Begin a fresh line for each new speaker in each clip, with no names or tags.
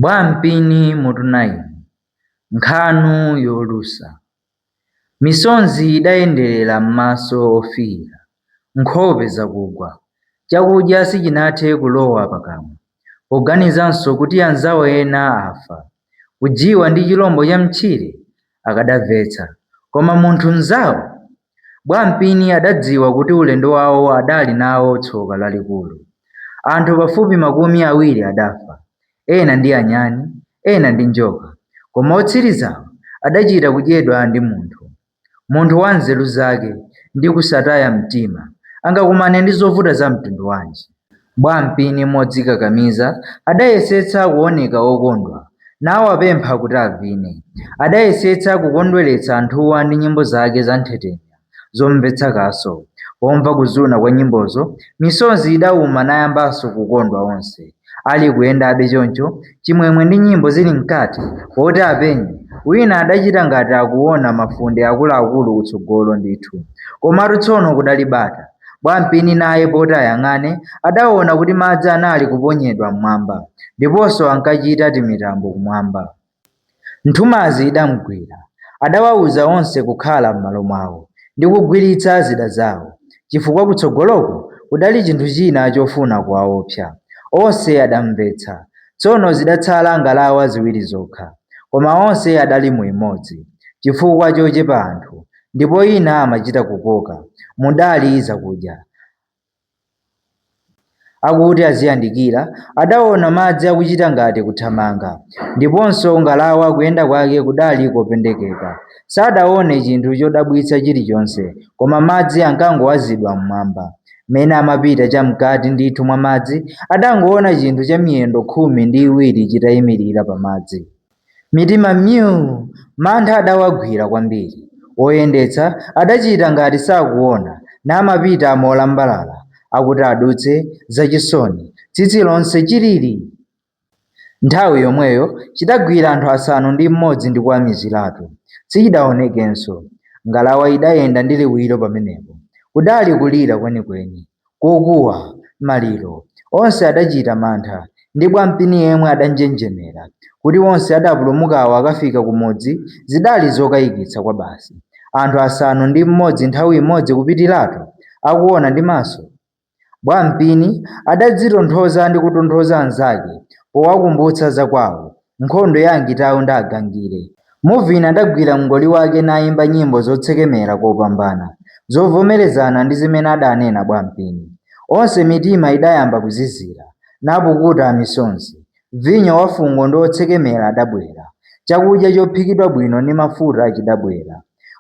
Bwampini mutu 9 Nkhanu yolusa Misonzi idayenderera m'maso ofiira, nkhope zakugwa. Chakudya sichinathe kulowa pakamwa. Poganizanso kuti anzawo ena afa, kujiwa ndi chilombo cha mtchire, akadamvetsa. Koma munthu mnzawo, Bwampini adadziwa kuti ulendo wawo adali nawo tsoka lalikulu. Anthu pafupi makumi awiri adafa, ena ndi anyani, ena ndi njoka, koma otsirizawo adachita kudyedwa ndi munthu. Munthu wa nzeru zake ndi kusataya mtima angakumane ndi zovuta za mtundu wanji? Bwampini modzikakamiza adayesetsa kuoneka wokondwa nawapempha kuti avine. Adayesetsa kukondweretsa anthuwa ndi nyimbo zake za nthetemya zomvetsa kaso. Pomva kuzuna kwa nyimbozo, misozi idauma nayambanso kukondwa onse. Ali kuyendabe choncho, chimwemwe ndi nyimbo zili mkati, poti apenye, wina adachita ngati akuona mafunde akuluakulu kutsogolo ndithu. Komatu tsono kudali bata. Bwampini naye poti ayang'ane adaona kuti madzi anali kuponyedwa m'mwamba ndiponso ankachita timitambo kumwamba. Nthumazi idamgwira. Adawauza onse kukhala m'malo mwawo ndi kugwiritsa zida zawo chifukwa kutsogoloko kudali chinthu china chofuna kuwaopsa. Onse adamvetsa. Tsono zidatsala ngalawa ziwiri zokha koma onse adali mu imodzi chifukwa chochepa anthu. ndipo ina amachita kukoka mudali zakudya. Akuti aziyandikira, adaona madzi akuchita ngati kuthamanga, ndiponso ngalawa kuyenda kwake kudali kopendekeka. Sadaone chinthu chodabwitsa chilichonse, koma madzi ankangowazidwa m'mwamba. Mmene amapita chamkati ndithu mwa madzi, adangoona chinthu cha miyendo khumi ndi iwiri chitaimirira pamadzi. Mitima myuu! Mantha adawagwira kwambiri. Oyendetsa adachita ngati sakuona namapita molambalala akuti adutse zachisoni tsitsi lonse chilili! Nthawi yomweyo chidagwira anthu asanu ndi mmodzi ndi kuwamiziratu. Sichidaonekenso. Ngalawa idayenda ndi liwiro pamenepo. Kudali kulira kwenikweni. kokuwa, maliro, onse adachita mantha, ndi Bwampini yemwe adanjenjemera. Kuti onse adapulumukawo akafika kumudzi zidali zokayikitsa kwabasi. Anthu asanu ndi mmodzi nthawi imodzi kupitiratu? Akuona ndi maso? Bwampini adadzitonthoza ndi kutonthoza anzake powakumbutsa za kwawo. Nkhondo ya Angitau ndi Agangire. Muvina adagwira mngoli wake nayimba nyimbo zotsekemera kopambana, zovomerezana ndi zimene adaanena Bwampini. Onse mitima idayamba kuzizira, napukuta misonzi. Vinyo wafungo ndi wotsekemera adabwera, chakudya chophikidwa bwino ndi mafuta chidabwera.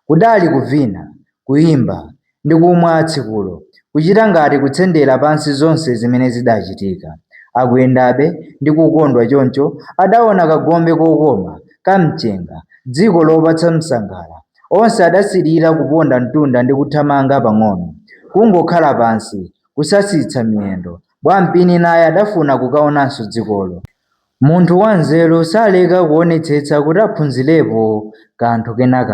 Kudali kuvina, kuyimba, ndi kumwa tsikulo, kuchita ngati kutsendera pansi zonse zimene zidachitika. Akuyendabe ndi kukondwa choncho adaona kagombe kokoma, ka mchenga, dziko lopatsa msangala. Onse adasilira kuponda mtunda ndi kuthamanga pang'ono. Kungokhala pansi, kusasitsa miyendo. Bwampini naye adafuna kukaonanso dzikolo. Munthu wanzeru saleka kuonetsetsa kuti aphunzirepo kanthu kena kake.